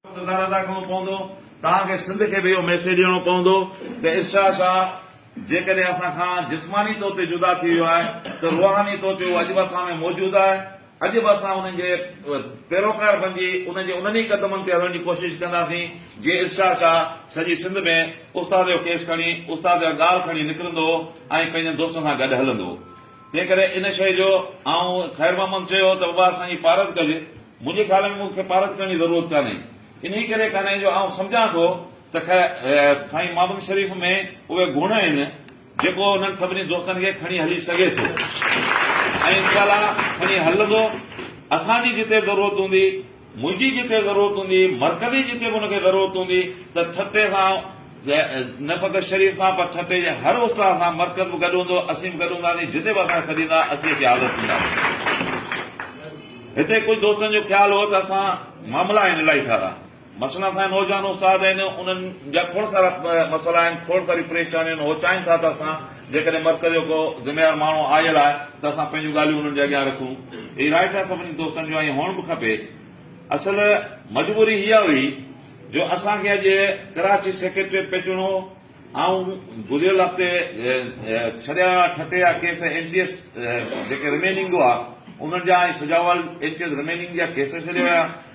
ڪردار ادا ڪرڻو پوندو، توهان کي سنڌ کي به اهو ميسيج ڏيڻو پوندو ته ارشاد شاهه جيڪڏهن اسان کان جسماني طور تي جدا ٿي ويو آهي ته روحاني طور تي هو اڄ به اسان ۾ موجود آهي، اڄ به اسان انهن جي پيروڪار بنجي انهن جي انهن ئي قدمن تي هلڻ جي ڪوشش ڪنداسين جيئن ارشاد شاهه سڄي سنڌ ۾ استاد جو ڪيس کڻي استاد جا ڳال کڻي نڪرندو هو ۽ پنهنجن دوستن سان گڏ هلندو هو. تنهن ڪري ان شيء جو آئون خير محمد چيو ته بابا اسان جي پارت ڪج. منهنجي خيال ۾ مون کي پارت ڪرڻ جي ضرورت ڪانهي. انهيء ڪري ڪانهي جو آئون سمجهان ٿو ته خير سائين محمد شريف ۾ اهي گڻ آهن جيڪو انهن سڀني دوستن کي کڻي هلي سگهي ٿو ۽ انشاء الله کڻي هلندو. اسان جي جتي ضرورت هوندي. منهنجي جتي ضرورت هوندي، مرڪزي جتي به ان کي ضرورت هوندي ته ٺٽي سان نه فقط شريف سان پر ٺٽي جي هر استاد سان مرڪز به گڏ هوندو، اسين به گڏ هونداسين، جتي به اسان کي سڏيندا اسين اچي حاضر ٿينداسين. هتي ڪجهه دوستن جو خيال هو ته اسان معاملا آهن الاهي سارا مثلا اسان جا نوجوان استاد آهن انهن جا کوڙ سارا مسئلا آهن، کوڙ ساري پريشانيون آهن هو چاهين ٿا ته اسان جيڪڏهن مرڪز جو ڪو ذميوار ماڻهو آيل آهي ته اسان پنهنجون ڳالهيون انهن جي اڳيان رکون. هي رائٽ آهي سڀني دوستن جو ۽ هئڻ به کپي. اصل مجبوري اها هئي جو اسان کي اڄ ڪراچي سيڪريٽريٽ پهچڻو هو. آئون گذريل هفتي ڇڏيا ويا ٺٽي جا ڪيس اين ٽي ايس جيڪي رميننگ هئا انهن جا ۽ Sujawal N T S remaining جا ڪيس ڇڏيا ويا.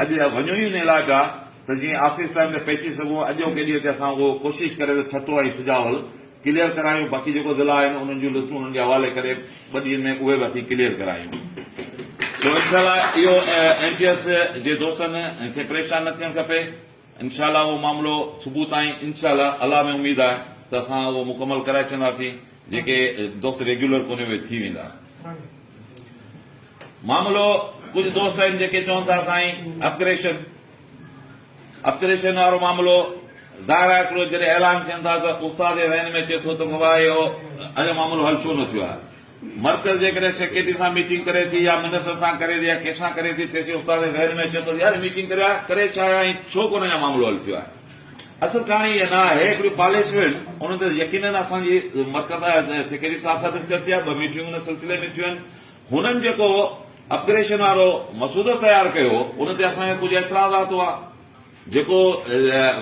اڄ وڃون ئي ان علاج آ ته جيئن آفيس ٽائيم تي پهچي سگهون اڄوڪي ڏينهن تي اسان اهو ڪوشش ڪري ته ٺٽو ۽ سجاول ڪليئر ڪرايون باقي جيڪو ضلعا آهن انهن جون لسٽون انهن جي حوالي ڪري ٻه ڏينهن ۾ اهي به اسين ڪليئر ڪرايون سو انشاء الله اهو ايم پي ايس جي دوستن کي پريشان نه ٿيڻ کپي انشاء الله اهو معاملو صبح تائين انشاء الله الله ۾ اميد آهي ته اسان اهو مڪمل ڪرائي ڇڏنداسين جيڪي دوست ريگيولر ڪونهي اهي ٿي ويندا. معاملو ڪجهه دوست آهن جيڪي چون ٿا سائين اپگريشن اپگريشن وارو معاملو ظاهر آهي هڪڙو جڏهن اعلان ٿين ٿا ته استاد ذهن ۾ اچي ٿو ته مبا هي اهو اڃا معاملو حل ڇو نه ٿيو آهي مرڪز جيڪڏهن سيڪريٽري سان ميٽنگ ڪري ٿي يا منسٽر سان ڪري ٿي يا ڪنهن سان ڪري ٿي تيسين استاد ذهن ۾ اچي ٿو ته يار ميٽنگ ڪري ڪري ڇا آهي ۽ ڇو ڪونه اڃا معاملو حل ٿيو آهي اصل ڪهاڻي اها نه آهي هڪڙيون پاليسيون آهن انهن تي يقينن اسان جي مرڪز سيڪريٽري صاحب سان ڏسڪس ٿي آهي ٻه ميٽنگون ان سلسلي ۾ ٿيون آهن هنن جيڪو اپگريشن وارو مسودو تيار ڪيو ان تي اسان کي ڪجهه اعتراضات هئا جيڪو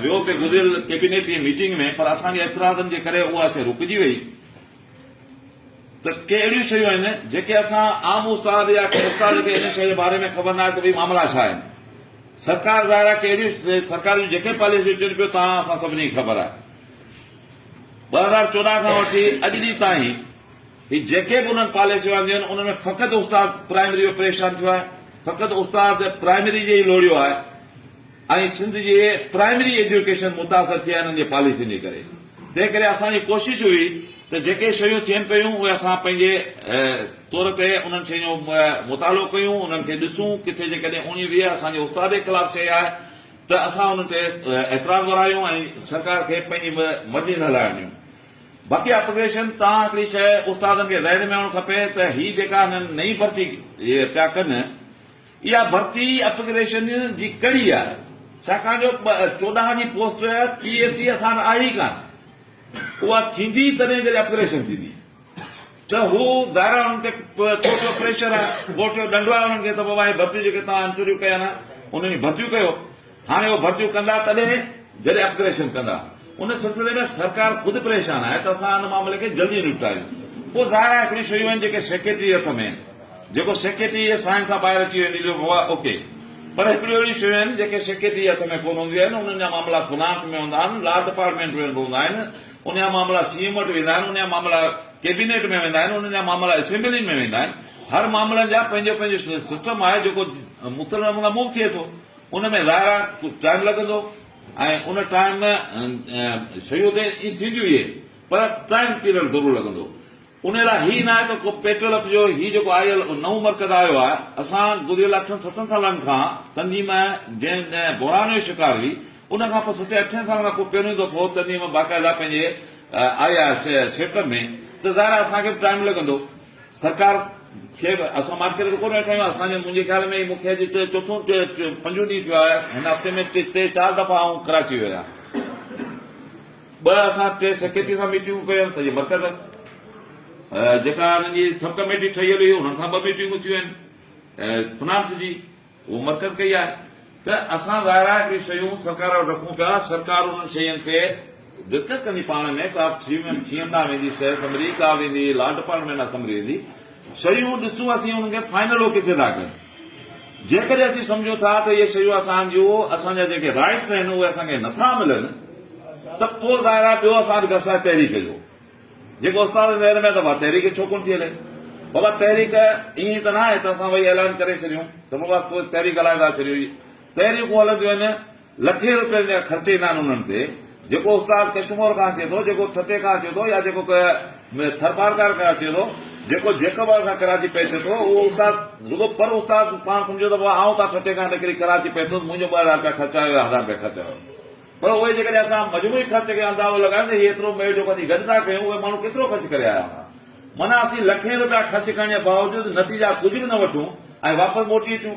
ويو پئي گذريل ڪيبينيٽ جي ميٽنگ ۾ پر اسان جي اعتراضن جي ڪري اها شيء رڪجي وئي ته ڪي اهڙيون شيون آهن جيڪي اسان عام استاد يا ڪي استاد کي ان شيء جي باري ۾ خبر ناهي ته ڀئي معاملا ڇا آهن سرڪار ظاهر آهي ڪي اهڙيون سرڪار جون جيڪي پاليسيون چون پيو تان اسان سڀني کي خبر آهي ٻه هزار چوڏهن کان وٺي اڄ ڏينهن تائين هي جيڪي به انهن پاليسيون آنديون آهن انهن ۾ فقط استاد پرائمري جو پريشان ٿيو آهي فقط استاد پرائمري جي ئي لوڙيو آهي ۽ سنڌ جي پرائمري ايجوڪيشن متاثر ٿي آهي انهن جي پاليسين جي ڪري تنهن ڪري اسان جي ڪوشش هئي ته جيڪي شيون ٿين پيون اهي اسان پنهنجي طور تي انهن شين جو مطالعو ڪيون انهن کي ڏسون ڪٿي جيڪڏهن اوڻي ويهه اسان جي استاد جي خلاف شيء آهي ته اسان انهن تي اعتراض ورايون ۽ سرڪار کي پنهنجي مرضي نه هلائڻ ڏيون. باقي اپوزيشن تان هڪڙي شيء استادن کي ذهن ۾ آڻڻ کپي ته هي جيڪا هنن نئين ڀرتي پيا ڪن اها ڀرتي اپگريشن جي ڪڙي آهي ڇاڪاڻ جو چوڏهن جي پوسٽ پي ايس ٽي اسان وٽ آهي ئي ڪانه اها ٿيندي تڏهن جڏهن اپگريشن ٿيندي. ته هو ظاهرا انهن تي ڪورٽ جو پريشر آهي، ڪورٽ جو ڏنڊ آهي انهن کي ته بابا هي ڀرتيون جيڪي توهان انٽرويو ڪيا آهن انهن جون ڀرتيون ڪيو. هاڻي اهي ڀرتيون ڪندا تڏهن جڏهن اپگريشن ڪندا. ان سلسلي ۾ سرڪار خود پريشان آهي ته اسان ان معاملي کي جلدي نپٽايون. پوء ظاهر آهي هڪڙيون شيون آهن جيڪي سيڪريٽري جي هٿ ۾ آهن. جيڪو سيڪريٽري جي ساين کان ٻاهر اچي ويندي جو بابا اوڪي. پر هڪڙيون اهڙيون شيون آهن جيڪي سيڪريٽري جي هٿ ۾ ڪونه هونديون آهن، انهن جا معاملا فنانس ۾ هوندا آهن، لا ڊپارٽمينٽ ۾ به هوندا آهن، ان جا معاملا سي ايم وٽ ويندا آهن، ان جا معاملا ڪيبينيٽ ۾ ويندا آهن، ان جا معاملا اسيمبلين ۾ ويندا آهن، هر معاملن جا پنهنجو پنهنجو سسٽم آهي جيڪو مختلف نمونا موو ٿئي ٿو، ان ۾ ظاهر آهي ڪجهه ٽائيم لڳندو ۽ ان ٽائيم ۾ شيون ته ائين ٿينديون ئي پر ٽائيم پيريڊ ضرور لڳندو. ان لاء هي ناهي ته ڪو پيٽرل اٿجو، هي جيڪو آء ايل او نئون مرڪز آيو آهي، اسان گذريل اٺن ستن سالن کان تنظيم جنهن جنهن بحران جو شڪار هئي، ان کان پوء ستين اٺين سالن کان پوء پهريون دفعو تنظيم باقاعده پنهنجي آئي آهي سيٽ ۾ ته ظاهر آهي اسان کي به ٽائيم لڳندو، سرڪار کي به اسان ماٺ ڪري ته ڪونه ويٺا آهيون، اسان جي منهنجي خيال ۾ هي مون کي اڄ چوٿون پنجون ڏينهن ٿيو آهي، هن هفتي ۾ ٽي چار دفعا آئون ڪراچي ويو آهيان. ٻه اسان ٽي سيڪريٽري سان ميٽنگون ڪيون آهن سڄي مرڪز جيڪا انهن جي سب ڪميٽي ٺهيل هئي انهن سان ٻه ميٽنگون ٿيون آهن فنانس جي اهو مرڪز ڪئي آهي ته اسان ظاهر آهي هڪڙي شيون سرڪار وٽ رکون پيا سرڪار انهن شين کي ڊسڪس ڪندي پاڻ ۾ ڪا سي ايم ڏانهن ويندي شهر اسيمبلي ڪا ويندي لا ڊپارٽمينٽ اسيمبلي ويندي شيون ڏسون اسين انهن کي فائنل اوڪي ٿي ٿا ڪن جيڪڏهن اسين سمجهون ٿا ته اهي شيون اسان جون اسان جا جيڪي رائيٽس آهن اهي اسان کي نٿا ملن ته پوء ظاهر آهي ٻيو اسان وٽ گس آهي تحريڪ جو جيڪو استاد جي ذهن ۾ ته بابا تحريڪ ڇو ڪونه ٿي هلي بابا تحريڪ ائين ته نه آهي ته اسان وئي اعلان ڪري ڇڏيون ته بابا تحريڪ هلائي ٿا ڇڏيون تحريڪون هلنديون آهن لکين روپين جا خرچ ايندا آهن انهن تي جيڪو استاد ڪشمور کان اچي ٿو جيڪو ٺٽي کان اچي ٿو يا جيڪو ٿرپارڪر کان اچي ٿو جيڪو جيڪب آباد کان ڪراچي پهچي ٿو اهو استاد رڳو پر استاد پاڻ سمجهي ٿو بابا آئون تان ٺٽي کان نڪري ڪراچي پهتس منهنجو ٻه هزار رپيا خرچ آيو يا هزار رپيا خرچ آيو پر اهي جيڪڏهن اسان مجموعي خرچ کي اندازو لڳايون ته هي ايترو ميڙ جيڪو اسين گڏ ٿا ڪيون اهي ماڻهو ڪيترو خرچ ڪري آيا هوندا معنيٰ اسين لکين روپيا خرچ ڪرڻ جي باوجود نتيجا ڪجهه به نه وٺون ۽ واپس موٽي اچون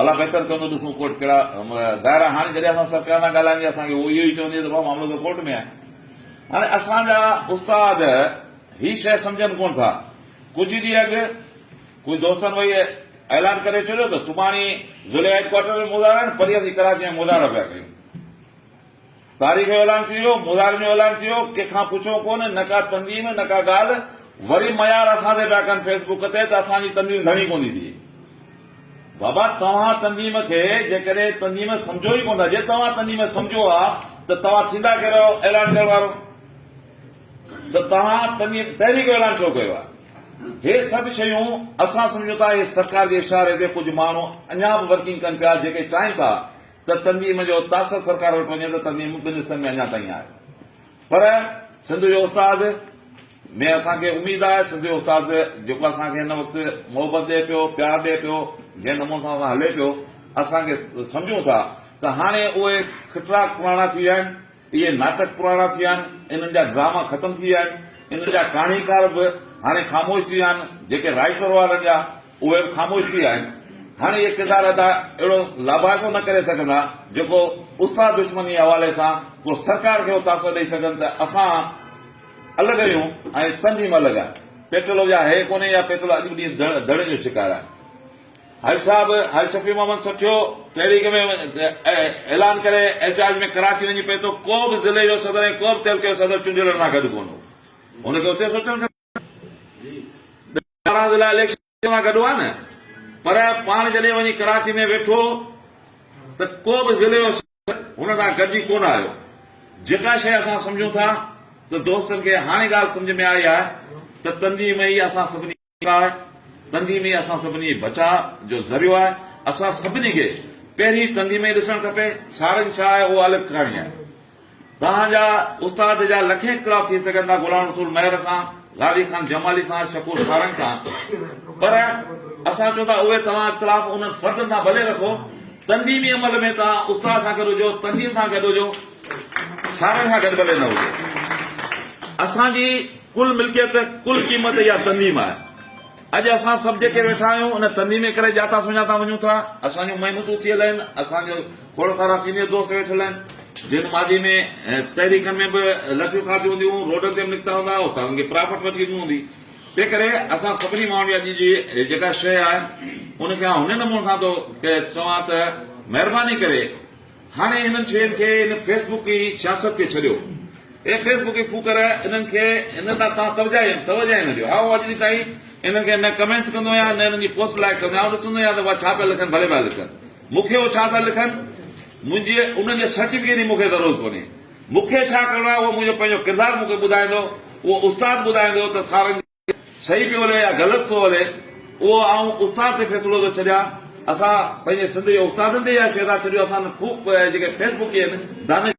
الله بهتر ڪندو ڏسون ڪورٽ ڪهڙا ظاهر آهي هاڻي جڏهن اسان سرڪار سان ڳالهائيندي اسان کي اهو اهو ئي چوندي ته ڀاء معاملو ته ڪورٽ ۾ آهي هاڻي اسان جا استاد هي شيء سمجهن ڪونه ٿا ڪجهه ڏينهن اڳ ڪجهه دوستن وئي اعلان ڪري ڇڏيو ته سڀاڻي ضلعي هيڊ ڪوارٽر ۾ مظاهرا آهن پريهه اسين ڪراچي ۾ مظاهرا پيا ڪيون تاريخ جو اعلان ٿي ويو، مظاهرن جو اعلان ٿي ويو، ڪنهن کان پڇو ڪونه، نه ڪا تنظيم، نه ڪا ڳالهه، وري ميار اسان تي پيا ڪن فيس بڪ تي ته اسان جي تنظيم ڌڻي ڪونٿي ٿئي. بابا توهان تنظيم کي جيڪڏهن تنظيم سمجهو ئي ڪونه، جي توهان تنظيم سمجهو ها ته توهان ٿيندا ڪهڙو آهيو اعلان ڪرڻ وارو؟ ته توهان تنظيم تحريڪ جو اعلان ڇو ڪيو آهي؟ هي سڀ شيون اسان سمجهون ٿا هي سرڪار جي اشاري تي ڪجهه ماڻهو اڃا به ورڪنگ ڪن پيا جيڪي چاهين ٿا ته تنظيم جو تاثر سرڪار وٽ وڃي ته تنظيم ٻن حصن ۾ اڃا تائين آهي پر سنڌ جو استاد ۾ اسان کي اميد آهي سنڌ جو استاد جيڪو اسان کي هن وقت محبت ڏئي پيو پيار ڏئي پيو جنهن نموني سان اسان هلي پيو اسان کي سمجهون ٿا ته هاڻي اهي کٽرا پراڻا ٿي ويا آهن اهي ناٽڪ پراڻا ٿي ويا آهن، انهن جا ڊراما ختم ٿي ويا آهن، انهن جا ڪهاڻيڪار به هاڻي خاموش ٿي ويا آهن، جيڪي رائيٽر هئا انهن جا، اهي به خاموش ٿي ويا آهن. هاڻي اهي ڪردار ادا اهڙو لاڀائتو نه ڪري سگهندا، جيڪو استاد دشمنيء جي حوالي سان ڪو سرڪار کي اهو تاثر ڏئي سگهن ته اسان الڳ آهيون ۽ تنظيم الڳ آهي. پيٽلو جا هيء ڪونهي يا پيٽلو اڄ به ڏينهن ڌڙين جو شڪار آهي. حج صاحب حج شفيع محمد سٺيو تحريڪ ۾ اعلان ڪري احتجاج ۾ ڪراچي وڃي پهتو ڪو به ضلعي جو صدر ۽ ڪو به تعلقي جو صدر چونڊيل رنا گڏ ڪون هو هن کي اتي سوچڻ کپي ٻارهن ضلع اليڪشن سان گڏ هئا نه پر پاڻ جڏهن وڃي ڪراچي ۾ ويٺو ته ڪو به ضلعي جو صدر هن سان گڏجي ڪون آيو جيڪا شيء اسان سمجهون ٿا ته دوستن کي هاڻي ڳالهه سمجهه ۾ آئي آهي ته تنظيم هي اسان سڀني آهي، تندي مي اسان سڀني جي بچاء جو ذريعو آهي، اسان سڀني کي پهرين تندي مي ڏسڻ کپي، سارنگ ڇا آهي اهو الڳ ڪهاڻي آهي، توهان جا استاد جا لکين اختلاف ٿي سگهن ٿا غلام رسول مهر سان، غازي خان جمالي سان، شڪور سارنگ سان، پر اسان چون ٿا اهي توهان اختلاف انهن فردن سان ڀلي رکو، تنديمي عمل ۾ توهان استاد سان گڏ هجو، تنديم سان گڏ هجو، سارنگ سان گڏ ڀلي نه هجو، اسان جي. ڪل ملڪيت، ڪل قيمت اها تنظيم آهي. اڄ اسان سڀ جيڪي ويٺا آهيون، ان تنظيم ڪري ڄاتا سڃاتا وڃون ٿا. اسان جون محنتون ٿيل آهن، اسان جا کوڙ سارا سينيئر دوست ويٺل آهن، جن ماضي ۾ تحريڪن ۾ به لٺيون کاڌيون هونديون، روڊن تي به نڪتا هوندا، استادن کي پراڦٽ وٺي ڏنو هوندي. تنهنڪري اسان سڀني ماڻهن جي اڄ جي جيڪا شيء آهي، ان کي آئون هن نموني سان ٿو چوان ته مهرباني ڪري، هاڻي هنن شين کي هن فيس بڪ ئي سياست کي ڇڏيو اي فيس بڪ ڦوڪر هنن کي هن ڏانهن توهان توجه توجه ئي نه ڏيو هائو اڄ تائين هنن کي نه ڪمينٽس ڪندو آهيان نه هنن جي پوسٽ لائڪ ڪندو آهيان آئون ڏسندو آهيان ته اها ڇا پيا لکن ڀلي پيا لکن مونکي هو ڇا ٿا لکن منهنجي انهن جي سرٽيفڪيٽ جي مونکي ضرورت ڪونهي مونکي ڇا ڪرڻو آهي اهو منهنجو پنهنجو ڪردار مونکي ٻڌائيندو اهو استاد ٻڌائيندو ته سارنگ صحيح پيو هلي يا غلط ٿو هلي اهو آئون استاد تي فيصلو ٿو ڇڏيان اسان پنهنجي سنڌ جي استادن تي يا شهدا ڇڏيو اسان خوب جيڪي فيسبڪي آهن دانش